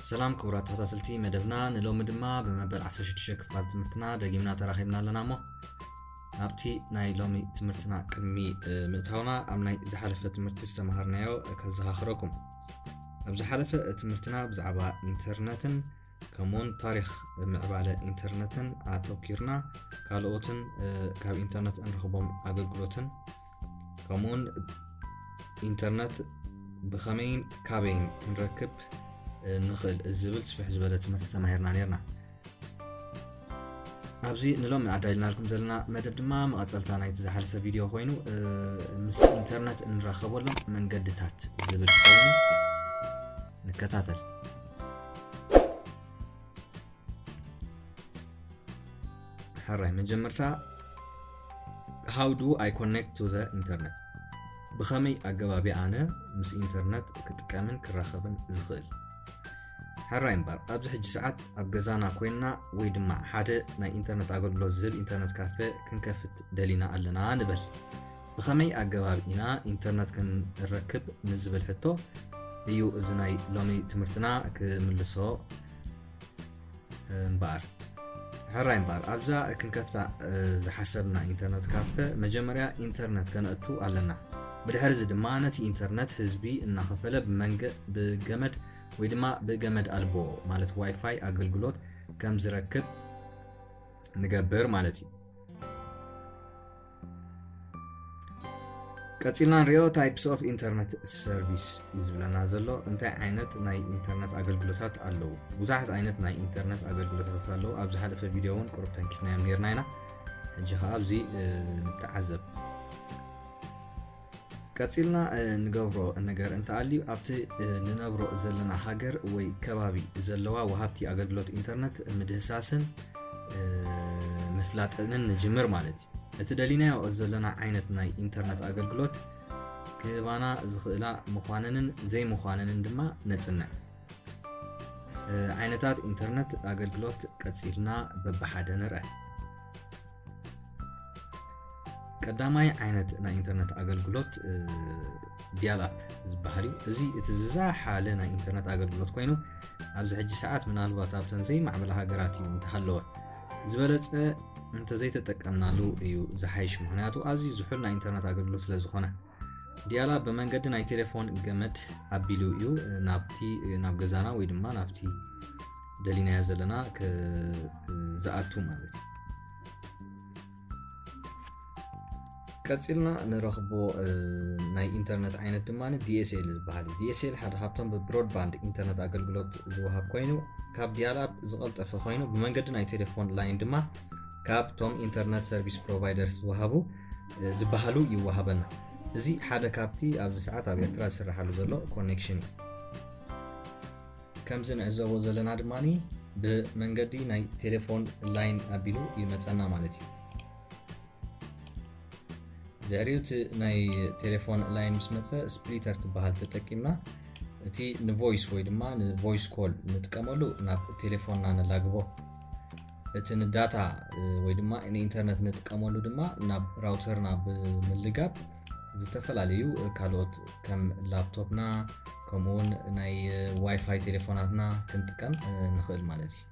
ሰላም ክቡራት ተኸታተልቲ መደብና ንሎሚ ድማ ብመበል 16 ክፋል ትምህርትና ደጊምና ተራኺብና ኣለና እሞ ናብቲ ናይ ሎሚ ትምህርትና ቅድሚ ምእታውና ኣብ ናይ ዝሓለፈ ትምህርቲ ዝተምሃርናዮ ከዘኻኽረኩም ኣብ ዝሓለፈ ትምህርትና ብዛዕባ ኢንተርነትን ከምኡውን ታሪክ ምዕባለ ኢንተርነትን ኣተኪርና ካልኦትን ካብ ኢንተርነት እንረክቦም ኣገልግሎትን ከምኡውን ኢንተርነት ብከመይን ካበይን ክንረክብ ንክእል ዝብል ስፍሕ ዝበለ ትምህርቲ ተማሂርና ነርና ኣብዚ ንሎሚ ኣዳልናልኩም ዘለና መደብ ድማ መቐፀልታ ናይቲ ዝሓለፈ ቪድዮ ኮይኑ ምስ ኢንተርነት እንራኸበሎም መንገድታት ዝብል ክኸውን ንከታተል ሕራይ መጀመርታ ሃው ዱ ኣይ ኮኔክት ቱ ዘ ኢንተርነት ብኸመይ ኣገባቢ ኣነ ምስ ኢንተርነት ክጥቀምን ክራኸብን ዝኽእል ሕራይ እምበር ኣብዚ ሕጂ ሰዓት ኣብ ገዛና ኮይንና ወይ ድማ ሓደ ናይ ኢንተርነት ኣገልግሎት ዝህብ ኢንተርነት ካፈ ክንከፍት ደሊና ኣለና ንበል ብኸመይ ኣገባብ ኢና ኢንተርነት ክንረክብ ንዝብል ሕቶ እዩ እዚ ናይ ሎሚ ትምህርትና ክምልሶ እምበኣር ሕራይ እምበኣር ኣብዛ ክንከፍታ ዝሓሰብና ኢንተርነት ካፈ መጀመርያ ኢንተርነት ከነእቱ ኣለና ብድሕሪ እዚ ድማ ነቲ ኢንተርነት ህዝቢ እናኸፈለ ብመንገ ብገመድ ወይ ድማ ብገመድ ኣልቦ ማለት ዋይፋይ ኣገልግሎት ከም ዝረክብ ንገብር ማለት እዩ ቀፂልና ንሪኦ ታይፕስ ኦፍ ኢንተርነት ሰርቪስ እዩ ዝብለና ዘሎ እንታይ ዓይነት ናይ ኢንተርነት ኣገልግሎታት ኣለዉ ብዙሓት ዓይነት ናይ ኢንተርነት ኣገልግሎታት ኣለዉ ኣብ ዝሓለፈ ቪድዮ እውን ቅሩብ ተንኪፍናዮም ነርና ኢና ሕጂ ከዓ ኣብዚ ንተዓዘብ ቀጺልና እንገብሮ ነገር እንተኣልዩ ኣብቲ ንነብሮ ዘለና ሃገር ወይ ከባቢ ዘለዋ ወሃብቲ ኣገልግሎት ኢንተርነት ምድህሳስን ምፍላጥንን ንጅምር ማለት እዩ እቲ ደሊናዮ ዘለና ዓይነት ናይ ኢንተርነት ኣገልግሎት ክህባና ዝኽእላ ምዃነንን ዘይምዃነንን ድማ ነፅንዕ ዓይነታት ኢንተርነት ኣገልግሎት ቀፂልና በብሓደ ንርአ ቀዳማይ ዓይነት ናይ ኢንተርነት ኣገልግሎት ዲያል ኣፕ ዝበሃል እዩ እዚ እቲ ዝዛሓለ ናይ ኢንተርነት ኣገልግሎት ኮይኑ ኣብዚ ሕጂ ሰዓት ምናልባት ኣብተን ዘይማዕበላ ሃገራት እዩ እንተሃለወ ዝበለፀ እንተዘይተጠቀምናሉ እዩ ዝሓይሽ ምክንያቱ ኣዝዩ ዝሑል ናይ ኢንተርነት ኣገልግሎት ስለዝኾነ ዲያላ ብመንገዲ ናይ ቴሌፎን ገመድ ኣቢሉ እዩ ናብቲ ናብ ገዛና ወይ ድማ ናብቲ ደሊናያ ዘለና ዝኣቱ ማለት እዩ ቀፂልና ንረኽቦ ናይ ኢንተርነት ዓይነት ድማ ዲኤስኤል ዝበሃል እዩ ዲኤስኤል ሓደ ካብቶም ብብሮድባንድ ኢንተርነት ኣገልግሎት ዝወሃብ ኮይኑ ካብ ዲያላብ ዝቐልጠፈ ኮይኑ ብመንገዲ ናይ ቴሌፎን ላይን ድማ ካብቶም ኢንተርነት ሰርቪስ ፕሮቫይደርስ ዝወሃቡ ዝበሃሉ ይወሃበና። እዚ ሓደ ካብቲ ኣብዚ ሰዓት ኣብ ኤርትራ ዝስራሓሉ ዘሎ ኮኔክሽን እዩ። ከምዚ ንዕዘቦ ዘለና ድማ ብመንገዲ ናይ ቴሌፎን ላይን ኣቢሉ ይመፀና ማለት እዩ። ድሕሪኡ እቲ ናይ ቴሌፎን ላይን ምስ መፀ ስፕሊተር ትበሃል ተጠቂምና እቲ ንቮይስ ወይ ድማ ንቮይስ ኮል ንጥቀመሉ ናብ ቴሌፎንና ነላግቦ እቲ ንዳታ ወይ ድማ ንኢንተርነት ንጥቀመሉ ድማ ናብ ራውተርና ብምልጋብ ዝተፈላለዩ ካልኦት ከም ላፕቶፕና ከምኡውን ናይ ዋይፋይ ቴሌፎናትና ክንጥቀም ንኽእል ማለት እዩ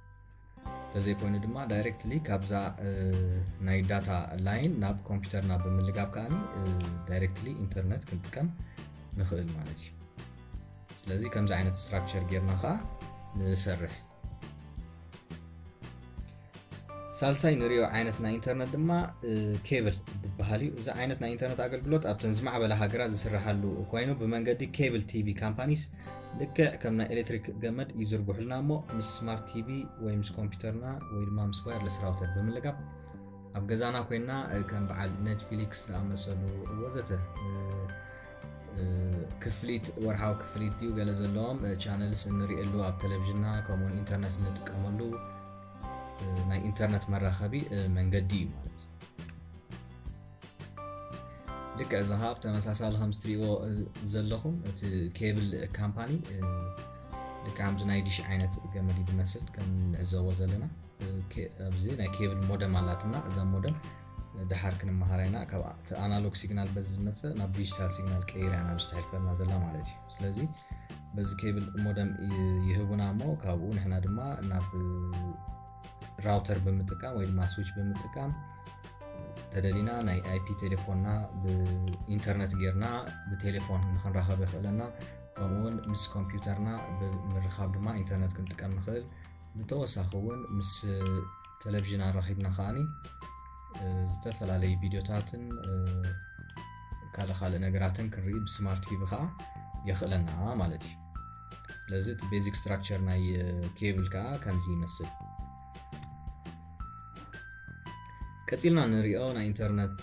ተዘይኮይኑ ድማ ዳይሬክትሊ ካብዛ ናይ ዳታ ላይን ናብ ኮምፒውተርና ብምልጋብ ከኣ ዳይሬክትሊ ኢንተርነት ክንጥቀም ንኽእል ማለት እዩ ስለዚ ከምዚ ዓይነት ስትራክቸር ጌርና ከዓ ንሰርሕ ሳልሳይ ንሪኦ ዓይነት ናይ ኢንተርነት ድማ ኬብል ዝበሃል እዩ እዚ ዓይነት ናይ ኢንተርነት ኣገልግሎት ኣብተን ዝማዕበላ ሃገራት ዝስራሓሉ ኮይኑ ብመንገዲ ኬብል ቲቪ ካምፓኒስ ልክዕ ከም ናይ ኤሌክትሪክ ገመድ ይዝርግሑልና እሞ ምስ ስማርት ቲቪ ወይ ምስ ኮምፒውተርና ወይ ድማ ምስ ዋይርለስ ራውተር ብምልጋብ ኣብ ገዛና ኮይና ከም በዓል ኔትፍሊክስ ዝኣመሰሉ ወዘተ ክፍሊት ወርሓዊ ክፍሊት ድዩ ገለ ዘለዎም ቻነልስ እንሪእሉ ኣብ ቴሌቭዥንና ከምኡውን ኢንተርነት እንጥቀመሉ ናይ ኢንተርነት መራኸቢ መንገዲ እዩ ማለት እዩ ልክ እዚ ከዓ ብተመሳሳሊ ከም ዝትሪእዎ ዘለኹም እቲ ኬብል ካምፓኒ ልክ ከምዚ ናይ ዲሽ ዓይነት ገመድ ዝመስል ከም ንዕዘቦ ዘለና ኣብዚ ናይ ኬብል ሞደም ኣላትና እዛ ሞደም ደሓር ክንመሃራ ኢና ካብቲ ኣናሎግ ሲግናል በዚ ዝመፀ ናብ ዲጂታል ሲግናል ቀይራ ኢና ብስቲ ሕልፈና ዘላ ማለት እዩ ስለዚ በዚ ኬብል ሞደም ይህቡና እሞ ካብኡ ንሕና ድማ ናብ ራውተር ብምጥቃም ወይ ድማ ስዊች ብምጥቃም ተደሊና ናይ ኣይፒ ቴሌፎንና ብኢንተርነት ጌርና ብቴሌፎን ንክንራኸብ የኽእለና ከምኡውን ምስ ኮምፒውተርና ብምርኻብ ድማ ኢንተርነት ክንጥቀም ንኽእል ብተወሳኺ እውን ምስ ተለቪዥን ኣራኺብና ከዓኒ ዝተፈላለዩ ቪድዮታትን ካልእ ካልእ ነገራትን ክንርኢ ብስማርት ቲቪ ከዓ የኽእለና ማለት እዩ ስለዚ እቲ ቤዚክ ስትራክቸር ናይ ኬብል ከዓ ከምዚ ይመስል ቀፂልና ንሪኦ ናይ ኢንተርነት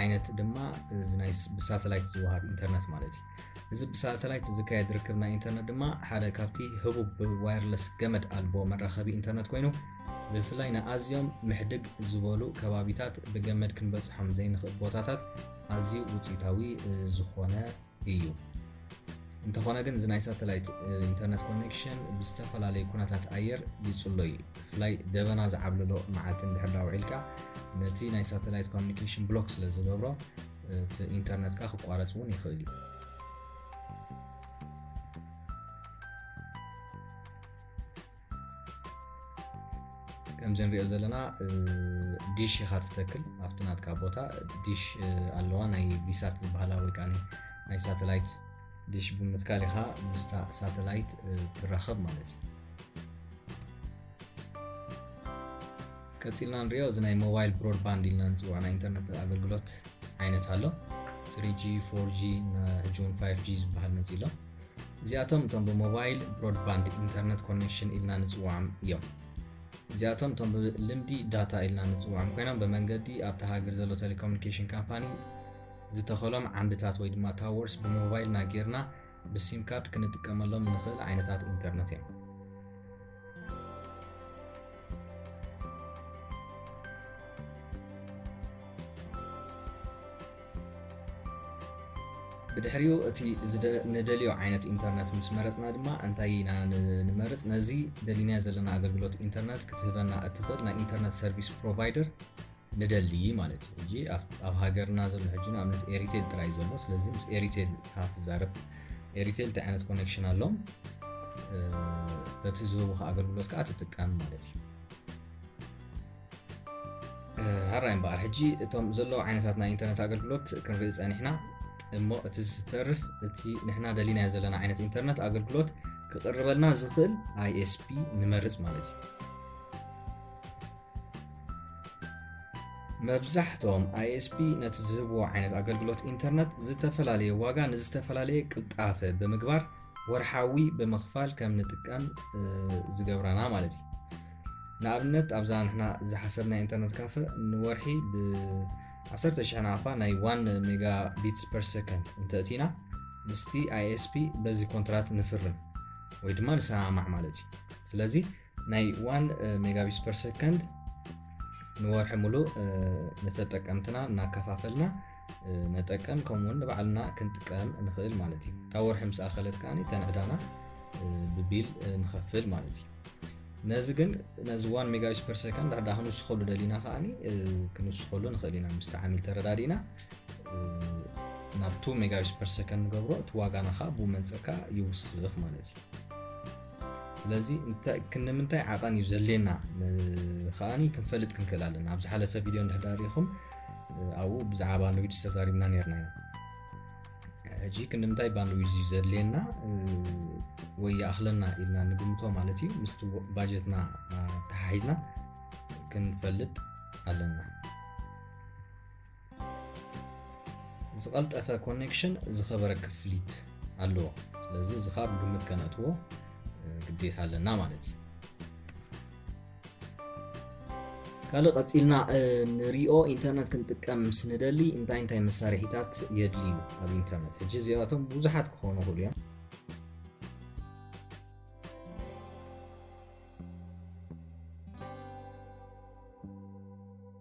ዓይነት ድማ እዚ ናይ ብሳተላይት ዝወሃብ ኢንተርነት ማለት እዩ እዚ ብሳተላይት ዝካየድ ርክብ ናይ ኢንተርነት ድማ ሓደ ካብቲ ህቡብ ብዋይርለስ ገመድ ኣልቦ መራኸቢ ኢንተርነት ኮይኑ ብፍላይ ንኣዝዮም ምሕድግ ዝበሉ ከባቢታት ብገመድ ክንበፅሖም ዘይንኽእል ቦታታት ኣዝዩ ውፅኢታዊ ዝኾነ እዩ እንተኾነ ግን እዚ ናይ ሳተላይት ኢንተርነት ኮኔክሽን ብዝተፈላለዩ ኩነታት ኣየር ይፅሎ እዩ ብፍላይ ደበና ዝዓብልሎ መዓልቲ እንድሕር ዳውዒልካ ነቲ ናይ ሳተላይት ኮሚኒኬሽን ብሎክ ስለ ዝገብሮ እቲ ኢንተርነት ከ ክቋረፅ እውን ይኽእል እዩ ከምዚ ንሪኦ ዘለና ዲሽ ኢኻ ትተክል ኣብቲ ናትካ ቦታ ዲሽ ኣለዋ ናይ ቢሳት ዝበሃላ ወይ ከዓ ናይ ሳተላይት ዲሽ ብምትካል ኢኻ ምስታ ሳተላይት ትራኸብ ማለት እዩ ቀጺልና ንሪኦ እዚ ናይ ሞባይል ብሮድባንድ ኢልና ንፅውዖ ናይ ኢንተርነት ኣገልግሎት ዓይነት ኣሎ ስሪጂ ፎርጂ ሕጂውን ፋይቭ ጂ ዝበሃል መፂ ኣሎ እዚኣቶም እቶም ብሞባይል ብሮድባንድ ኢንተርነት ኮኔክሽን ኢልና ንፅውዖም እዮም እዚኣቶም እቶም ብልምዲ ዳታ ኢልና ንፅውዖም ኮይኖም ብመንገዲ ኣብቲ ሃገር ዘሎ ቴሌኮሙኒኬሽን ካምፓኒ ዝተኸሎም ዓንድታት ወይ ድማ ታወርስ ብሞባይልና ጌርና ብሲም ካርድ ክንጥቀመሎም እንኽእል ዓይነታት ኢንተርነት እዮም። ብድሕሪኡ እቲ ንደልዮ ዓይነት ኢንተርነት ምስ መረፅና ድማ እንታይ ኢና ንመርፅ ነዚ ደሊናዮ ዘለና ኣገልግሎት ኢንተርነት ክትህበና እትኽእል ናይ ኢንተርነት ሰርቪስ ፕሮቫይደር ንደሊ ማለት እዩ ሕጂ ኣብ ሃገርና ዘሎ ሕጂ ንኣብነት ኤሪቴል ጥራይ ዘሎ ስለዚ ምስ ኤሪቴል ካብ ትዛረብ ኤሪቴል እንታይ ዓይነት ኮኔክሽን ኣሎም በቲ ዝህቡካ ኣገልግሎት ከዓ ትጥቀም ማለት እዩ ሃራይ እምበኣር ሕጂ እቶም ዘለዉ ዓይነታት ናይ ኢንተርነት ኣገልግሎት ክንርኢ ፀኒሕና እሞ እቲ ዝተርፍ እቲ ንሕና ደሊናዮ ዘለና ዓይነት ኢንተርነት ኣገልግሎት ክቕርበልና ዝኽእል ኣይኤስፒ ንመርፅ ማለት እዩ መብዛሕትኦም ISP ነቲ ዝህብዎ ዓይነት ኣገልግሎት ኢንተርነት ዝተፈላለየ ዋጋ ንዝተፈላለየ ቅልጣፈ ብምግባር ወርሓዊ ብምኽፋል ከም ንጥቀም ዝገብራና ማለት እዩ ንኣብነት ኣብዛ ንሕና ዝሓሰብና ኢንተርነት ካፈ ንወርሒ ብ10 ሽሕ ናፋ ናይ 1 ሜጋ ቢትስ ፐር ሰከንድ እንተእቲና ምስቲ ኣይኤስፒ በዚ ኮንትራት ንፍርም ወይ ድማ ንሰማማዕ ማለት እዩ ስለዚ ናይ ዋን ሜጋቢስ ፐር ሰከንድ ንወርሒ ሙሉእ ንተጠቀምትና እናከፋፈልና ነጠቀም ከምኡውን ንባዕልና ክንጥቀም ንኽእል ማለት እዩ ካብ ወርሒ ምስ ኣኸለት ከዓ ተንዕዳና ብቢል ንኸፍል ማለት እዩ ነዚ ግን ነዚ ዋን ሜጋቢስ ፐር ሰከንድ ዳዳ ክንውስኸሉ ደሊና ከዓ ክንውስኸሉ ንኽእል ኢና ምስቲ ዓሚል ተረዳዲእና ናብ ቱ ሜጋቢስ ፐር ሰከንድ ንገብሮ እቲ ዋጋና ከዓ ብመንፅር ከዓ ይውስኽ ማለት እዩ ስለዚ ክንምንታይ ዓቐን እዩ ዘድልየና ከዓኒ ክንፈልጥ ክንክእል ኣለና ኣብ ዝሓለፈ ቪድዮ እንድሕዳሪኹም ኣብኡ ብዛዕባ ንዊጅ ዝተዛሪብና ነርና ኢና ሕጂ ክንምንታይ ባንድዊዝ እዩ ዘድልየና ወይ ይኣኽለና ኢልና ንግምቶ ማለት እዩ ምስቲ ባጀትና ተሓሒዝና ክንፈልጥ ኣለና ዝቐልጠፈ ኮኔክሽን ዝኸበረ ክፍሊት ኣለዎ ስለዚ እዚ ካብ ግምት ከነእትዎ ግዴታ ኣለና ማለት እዩ ካልእ ቀፂልና ንሪኦ ኢንተርነት ክንጥቀም ምስ ንደሊ እንታይ እንታይ መሳርሒታት የድልዩ ኣብ ኢንተርነት ሕጂ እዚኣቶም ብዙሓት ክኾኑ ይኽእሉ እዮም